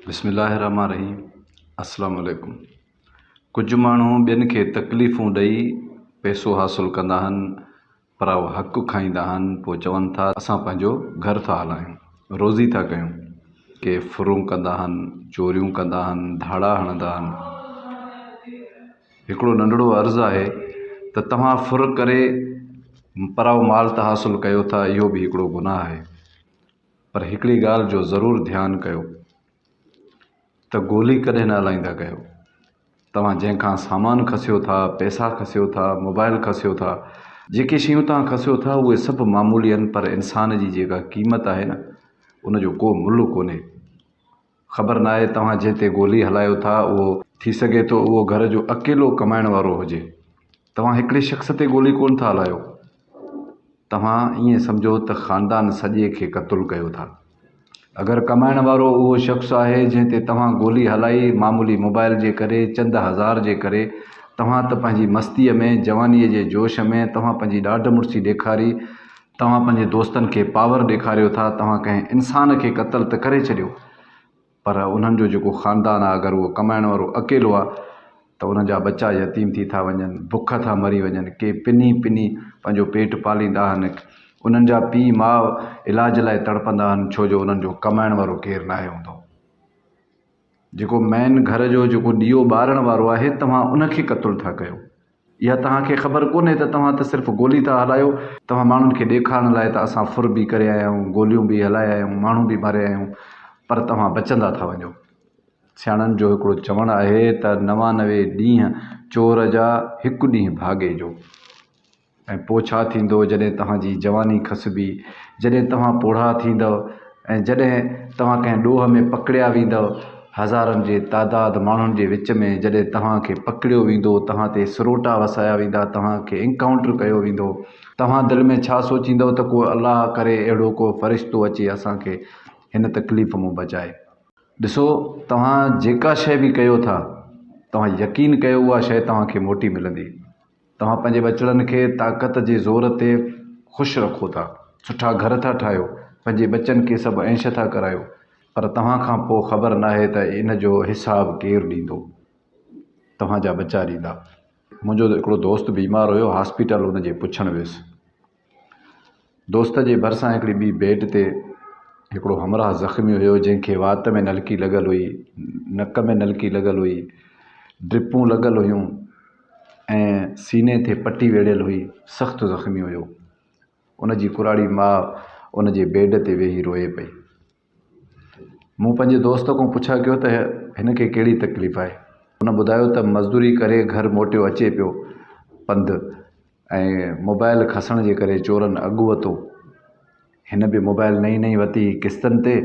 بسم الله الرحمٰن الرحيم السلام عليڪم ڪجهه ماڻهو ٻين کي تڪليفون ڏئي پئسو حاصل ڪندا آهن پر اهو حق کائيندا آهن پوء چون ٿا اسان پنهنجو گهر ٿا هلايون روزي ٿا ڪيون ڪي ڦرون ڪندا آهن چوريون ڪندا آهن ڌاڙا هڻندا آهن هڪڙو ننڍڙو عرض آهي ته توهان ڦر ڪري پرائو مال ته حاصل ڪيو ٿا اهو به هڪڙو گناهه آهي پر هڪڙي ڳالهه جو ضرور ڌيان ڪيو ته گولي ڪڏهن نه الائيندا ڪيو. توهان جنهن کان سامان کسيو ٿا، پئسا کسيو ٿا، موبائل کسيو ٿا، جيڪي شيون توهان کسيو ٿا اهي سڀ معمولي آهن پر انسان جي جيڪا قيمت آهي نه ان جو ڪو ملهه ڪونهي. خبر ناهي توهان جنهن تي گولي هلايو ٿا اهو ٿي سگهي ٿو اهو گهر جو اڪيلو ڪمائڻ وارو هجي. توهان هڪڙي شخص تي گولي ڪونه ٿا هلايو. توهان ائين سمجهو ته خاندان سڄي کي قتل ڪيو ٿا. اگر ڪمائڻ وارو اهو شخص آهي جنهن تي توهان گولي هلائي معمولي موبائل جي ڪري چند هزار جي ڪري توهان ته پنهنجي مستيء ۾ جوانيء جي جوش ۾ توهان پنهنجي ڏاڍ مڙسي ڏيکاري توهان پنهنجي دوستن کي پاور ڏيکاريو ٿا توهان ڪنهن انسان کي قتل ته ڪري ڇڏيو پر انهن جو جيڪو خاندان آهي اگر اهو ڪمائڻ وارو اڪيلو آهي ته انهن جا ٻچا يتيم ٿي ٿا وڃن بک ٿا مري وڃن ڪي پني پني پنهنجو پيٽ پاليندا آهن انهن جا پي ماء علاج لاء تڙپندا آهن ڇو جو انهن جو ڪمائڻ وارو ڪير ناهي هوندو. جيڪو مئن گهر جو جيڪو ڏيئو ٻارڻ وارو آهي توهان ان کي قتل ٿا ڪيو. اها توهان کي خبر ڪونهي ته توهان ته صرف گولي ٿا هلايو. توهان ماڻهن کي ڏيکارڻ لاء ته اسان ڦر به ڪري آيا آهيون، گوليون به هلايا آهيون، ماڻهو به ماريا آهيون پر توهان بچندا ٿا وڃو. سياڻن جو هڪڙو چوڻ آهي ته نوانوي ڏينهن چور جا هڪ ڏينهن ڀاڳي جو. ۽ پوء ڇا ٿيندو جڏهن توهان جي جواني کسبي، جڏهن توهان پوڙها ٿيندؤ ۽ جڏهن توهان ڪنهن ڏوهه ۾ پڪڙيا ويندؤ، هزارن جي تعداد ماڻهن جي وچ ۾ جڏهن توهان کي پڪڙيو ويندو، توهان تي سروٽا وسايا ويندا، توهان کي انڪائونٽر ڪيو ويندو، توهان دل ۾ ڇا سوچيندؤ ته ڪو الله ڪري اهڙو ڪو فرشتو اچي اسان کي هن تڪليف مون بچائي. ڏسو توهان جيڪا شيء به ڪيو ٿا، توهان يقين ڪيو اها شيء توهان کي موٽي ملندي. توهان پنهنجي ٻچڙن کي طاقت جي زور تي خوش رکو ٿا، سٺا گهر ٿا ٺاهيو، پنهنجي ٻچن کي سڀ عيش ٿا ڪرايو، پر توهان کان پوء خبر ناهي ته ان جو حساب ڪير ڏيندو؟ توهان جا ٻچا ڏيندا. منهنجو هڪڙو دوست بيمار هيو، هاسپيٽل ان جي پڇڻ ويس. دوست جي ڀرسان هڪڙي ٻي بيڊ تي هڪڙو همراهه زخمي هيو جنهن کي وات ۾ نلڪي لڳل هئي، نڪ ۾ نلڪي لڳل هئي، ڊرپون لڳل هيون ۽ سيني تي پٽي ويڙهيل هئي، سخت زخمي هيو. ان جي ڪراڙي ماء ان جي بيڊ تي ويهي روئي پئي. مون پنهنجي دوست کان پڇا ڪيو ته هن کي ڪهڙي تڪليف آهي. هن ٻڌايو ته مزدوري ڪري گهر موٽيو اچي پيو پنڌ ۽ موبائل کسڻ جي ڪري چورن اڳ وتو. هن به موبائل نئين نئين وتي هئي قسطن تي،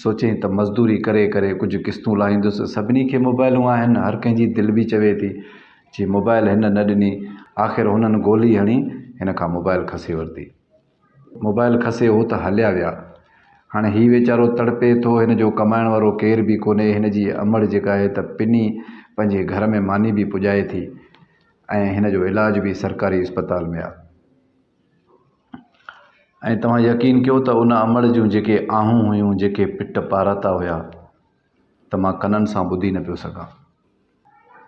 سوچيائين ته مزدوري ڪري ڪري ڪجهه قسطون لاهيندس. سڀني کي موبائلون آهن، هر ڪنهن جي دل به چوي ٿي. جي موبائل هن نه ڏني، آخر هنن گولي هڻي هن کان موبائل کسي ورتي. موبائل کسي هو ته هليا ويا. هاڻي هي ويچارو تڙپي ٿو، هن جو ڪمائڻ وارو ڪير به ڪونهي، هن جي امڙ جيڪا آهي ته پني پنهنجي گهر ۾ ماني به پڄائي ٿي ۽ هن جو علاج به سرڪاري اسپتال ۾ آهي ۽ توهان يقين ڪيو ته ان امڙ جون جيڪي آهون هيون، جيڪي پٽ پاراتا هيا ته مان ڪنن سان ٻڌي نه پيو سگهان.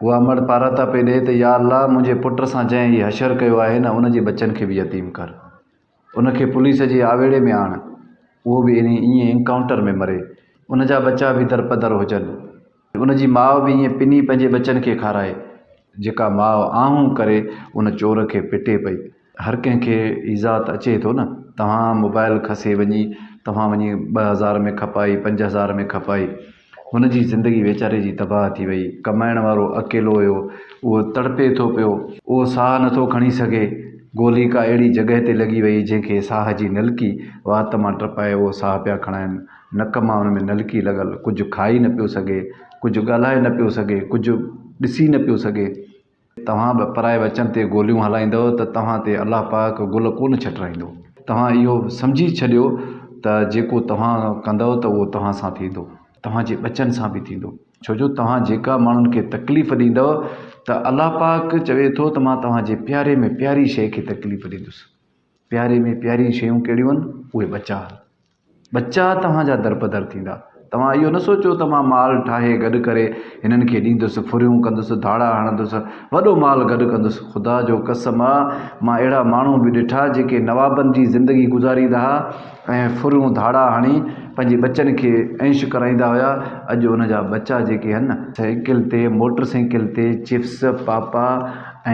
اها مڙ پاراتا پئي ڏئي ته يا الله منهنجي پٽ سان جنهن هي حشر ڪيو آهي نه ان جي ٻچن کي به يتيم ڪر. ان کي پوليس جي آويڙي ۾ آڻ. اهو به ايئن انڪائونٽر ۾ مري. ان جا ٻچا به درپدر هجن. ان جي ماء به ايئن پني پنهنجي ٻچن کي کارائي. جيڪا ماء آهون ڪري ان چور کي پٽي پئي. هر ڪنهن کي ايذاء ته اچي ٿو نه. توهان موبائل کسي وڃي توهان وڃي ٻه هزار ۾ کپائي پنج هزار ۾ کپائي. هن جي زندگي ويچاري جي تباهه ٿي وئي. ڪمائڻ وارو اڪيلو هيو. اهو تڙپي ٿو پيو. اهو ساهه نه ٿو کڻي سگهي. گولي ڪا اهڙي جڳهه تي لڳي وئي جنهن کي ساهه جي نلڪي وات مان ٽپائي اهو ساهه پيا کڻائين. نڪ مان ان ۾ نلڪي لڳل. ڪجهه کائي نه پيو سگهي. ڪجهه ڳالهائي نه پيو سگهي. ڪجهه ڏسي نه پيو سگهي. توهان به پرائي وچن تي گوليون هلائيندؤ ته توهان تي الله پاڪ گل ڪونه ڇٽرائيندو. توهان اهو سمجهي ڇڏيو ته جيڪو توهان ڪندؤ ته اهو توهان سان ٿيندو. توهان جي ٻچن سان به ٿيندو. ڇو جو توهان جيڪا ماڻهن کي تڪليف ڏيندؤ ته الله پاڪ چوي ٿو ته مان توهان جي پياري ۾ پياري شيء کي تڪليف ڏيندس. پياري ۾ پياريون شيون ڪهڙيون هن؟ اهي ٻچا هن. ٻچا توهان جا درپدر ٿيندا. توهان اهو نه سوچيو ته مان مال ٺاهي گڏ ڪري هنن کي ڏيندس، ڦرهيون ڪندس، ڌاڙا هڻندس، وڏو مال گڏ ڪندس. خدا جو قسم آ، مان اهڙا ماڻهو به ڏٺا، جيڪي نوابن جي زندگي گذاريندا ها ۽ ڦرهيون ڌاڙا هڻي پنهنجي ٻچن کي عيش ڪرائيندا هيا. اڄ ان جا ٻچا جيڪي هن نه. سائيڪل تي، موٽر سائيڪل تي چپس، پاپا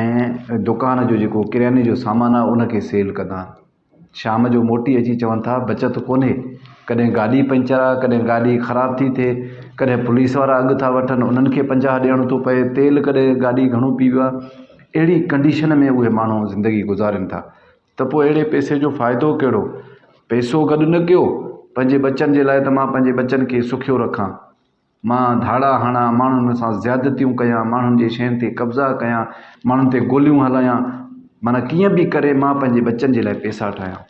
۽ دڪان جو جيڪو ڪرياني جو سامان آ، ان کي سيل ڪندا هن. شام جو موٽي اچي چون ٿا بچت ڪونهي. ڪڏهن گاڏي پنچر آ، ڪڏهن گاڏي خراب ٿي ٿئي، ڪڏهن پوليس وارا اڳ ٿا وٺن، انهن کي پنجاهه ڏيڻ ٿو پئي، تيل ڪڏهن گاڏي گهڻو پي ويو آ. اهڙي ڪنڊيشن ۾ اهي ماڻهو زندگي گذارين ٿا ته پوء اهڙي پئسي جو فائدو ڪهڙو؟ پئسو گڏ نه ڪيو، پنهنجي ٻچن جي لاء ته مان پنهنجي ٻچن کي سکيو رکان. مان ڌاڙا هڻان، ماڻهن سان زيادتيون ڪيان، ماڻهن جي شين تي قبضا ڪيان، ماڻهن تي گوليون هلايان، معنيٰ ڪيئن به ڪري مان پنهنجي ٻچن جي لاء پيسا ٺاهيان.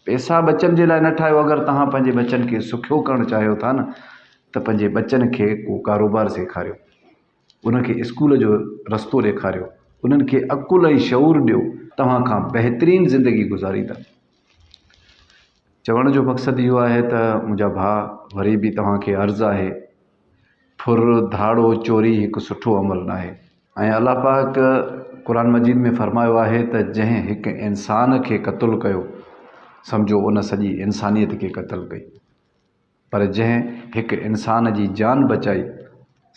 پيسا ٻچن جي لاء نه ٺاهيو، اگر توهان پنهنجي ٻچن کي سکيو ڪرڻ چاهيو ٿا نه ته پنهنجي ٻچن کي ڪو ڪاروبار سيکاريو، انهن کي اسڪول جو رستو ڏيکاريو، انهن کي عقل ۽ شعور ڏيو، توهان کان بهترين زندگي گذاريندا. چوڻ جو مقصد اهو آهي ته منهنجا ڀاء وري به توهان کي عرض آهي ڦر ڌاڙو چوري هڪ سٺو عمل ناهي ۽ الله پاڪ قرآن مجيد ۾ فرمايو آهي ته جنهن هڪ انسان کي قتل ڪيو سمجهو ان سڄي انسانيت کي قتل ڪئي پر جنهن هڪ انسان جي جان بچائي،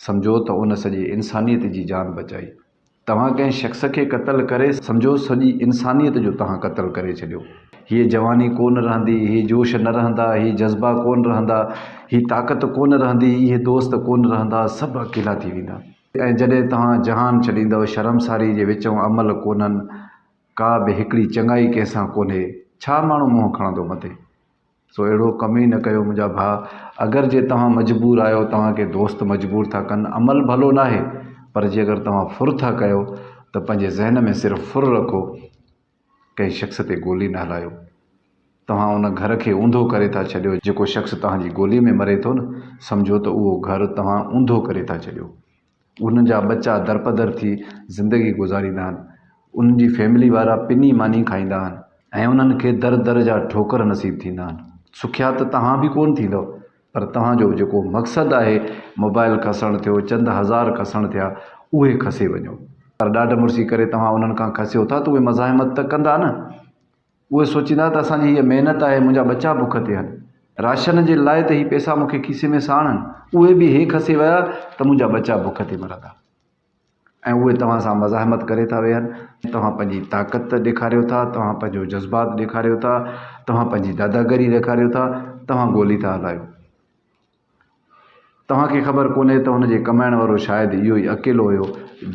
سمجهو ته ان سڄي انسانيت جي جان بچائي. توهان ڪنهن شخص کي قتل ڪري، سمجهو سڄي انسانيت جو توهان قتل ڪري ڇڏيو. هيء جواني ڪونه رهندي، هي جوش نه رهندا، هي جذبا ڪونه رهندا، هي طاقت ڪونه رهندي، اهي دوست ڪونه رهندا، سڀ اڪيلا ٿي ويندا. ۽ جڏهن توهان جهان ڇڏيندؤ، شرمساري جي وچئون عمل ڪونهن، ڪا به هڪڙي چڱائي ڪنهن سان ڪونهي، ڇا ماڻهو منهن کڻندو مٿي؟ سو اهڙو ڪم ئي نه ڪيو منهنجا ڀاء. اگر جي توهان مجبور آهيو، توهان کي دوست مجبور ٿا ڪن، عمل ڀلو ناهي، پر جي اگر توهان ڦر ٿا ڪيو ته پنهنجي ذهن ۾ صرف ڦر رکو، ڪنهن شخص تي گولي نه هلايو. توهان ان گهر کي اونڌو ڪري ٿا ڇڏيو، جيڪو شخص توهان جي گولي ۾ مري ٿو نه، سمجهو ته اهو گهر توهان اونڌو ڪري ٿا ڇڏيو. انهن جا ٻچا درپدر ٿي زندگي گذاريندا آهن. انهن جي فيملي وارا پني ماني کائيندا آهن ۽ انهن کي در در جا ٺوڪر نصيب ٿيندا آهن. سکيا ته توهان به ڪونه ٿيندؤ پر توهان جو جيڪو مقصد آهي موبائل کسڻ ٿيو، چند هزار کسڻ ٿيا اهي کسي وڃو پر ڏاڍ مڙسي ڪري توهان انهن کان کسيو ٿا ته اهي مزاحمت ته ڪندا نه. اهي سوچيندا ته اسان جي هيء محنت آهي، منهنجا ٻچا بک تي آهن. راشن جي لائي ته هي پئسا مون کي کيسي ۾ ساڻن، اهي به هيء کسي ويا ته منهنجا ٻچا بک تي مرندا. ۽ اهي توهان سان مزاحمت ڪري ٿا ويهن. توهان پنهنجي طاقت ڏيکاريو ٿا، توهان پنهنجو جذبات ڏيکاريو ٿا، توهان پنهنجي داداگري ڏيکاريو ٿا، توهان گولي ٿا هلايو. توهان کي خبر ڪونهي ته هن جي ڪمائڻ وارو شايد اهو ئي اڪيلو هيو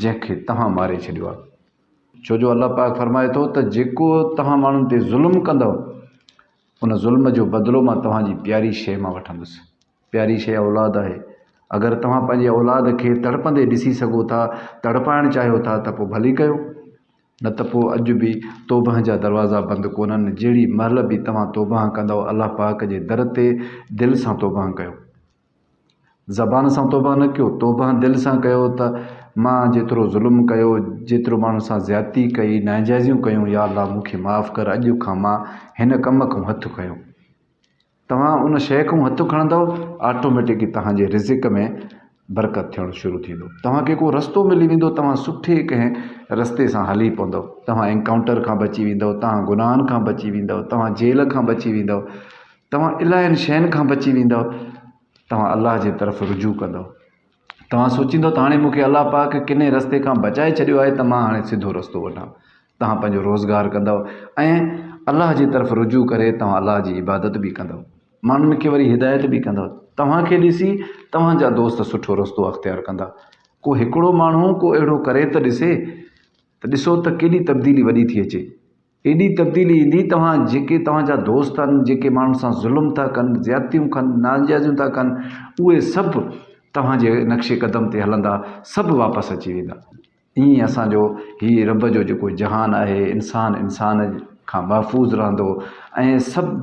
جنهن کي توهان ماري ڇڏيو آهي ڇو جو الله پاڪ فرمائي ٿو ته جيڪو توهان ماڻهن تي ظلم ڪندؤ ان ظلم جو بدلو مان توهان جي پياري شيء مان وٺندس پياري شيء اولاد آهي اگر توهان پنهنجي اولاد کي تڙپندي ڏسي سگهو ٿا تڙپائڻ چاهيو ٿا ته پوء ڀلي ڪيو نه ته پوء اڄ به توبهه جا دروازا بند ڪونهن، جهڙي مهل به توهان توبهه ڪندؤ الله پاڪ جي در تي دل سان توبهه ڪيو. زبان سان توبهه نه ڪيو، توبهه دل سان ڪيو ته مان جيترو ظلم ڪيو، جيترو ماڻهن سان زيادتي ڪئي، ناجائزيون ڪيون، يا الله مون کي معاف ڪر، اڄ کان مان هن ڪم کون هٿ کنيو. توهان ان شيء کان هٿ کڻندؤ، آٽوميٽڪ ئي توهان جي رزق ۾ برڪت ٿيڻ شروع ٿيندو. توهان کي ڪو رستو ملي ويندو، توهان سٺي ڪنهن رستي سان هلي پوندؤ. توهان انڪائونٽر کان بچي ويندؤ، توهان گناهن کان بچي ويندؤ، توهان جيل کان بچي ويندؤ، توهان الاين شين کان بچي ويندؤ، توهان الله جي طرف رجوع ڪندؤ. توهان سوچيندو ته هاڻي مون کي الله پاڪ ڪنهن رستي کان بچائي ڇڏيو آهي ته مان هاڻي سڌو رستو وٺان. توهان پنهنجو روزگار ڪندؤ ۽ الله جي طرف رجوع ڪري توهان الله جي عبادت به ڪندؤ. ماڻهن کي وري هدايت به ڪندؤ. توهان کي ڏسي توهان جا دوست سٺو رستو اختيار ڪندا. ڪو هڪڙو ماڻهو ڪو اهڙو ڪري ته ڏسي ته ڏسو ته ڪيڏي تبديلي وڏي ٿي اچي. ايڏي تبديلي ايندي توهان جيڪي توهان جا دوست آهن جيڪي ماڻهن سان ظلم ٿا ڪن زيادتيون ڪن ناجائزيون ٿا ڪن اهي سڀ توهان جي نقش قدم تي هلندا سڀ واپس اچي ويندا ائين اسان جو هي رب جو جيڪو جهان آهي انسان انسان کان محفوظ رهندو ۽ سڀ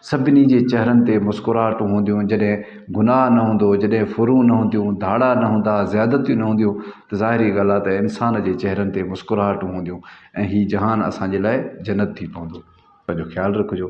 سڀني جي چهرن تي مسڪراهٽون هونديون جڏهن گناهه نه هوندو جڏهن ڦرون نه هونديون ڌاڙا نه هوندا زيادتيون نه هونديون ته ظاهري ڳالهه آهي ته انسان جي چهرن تي مسڪراهٽون هونديون ۽ هي جهان اسان جي لاء جنت ٿي پوندو پنهنجو خيال رکجو.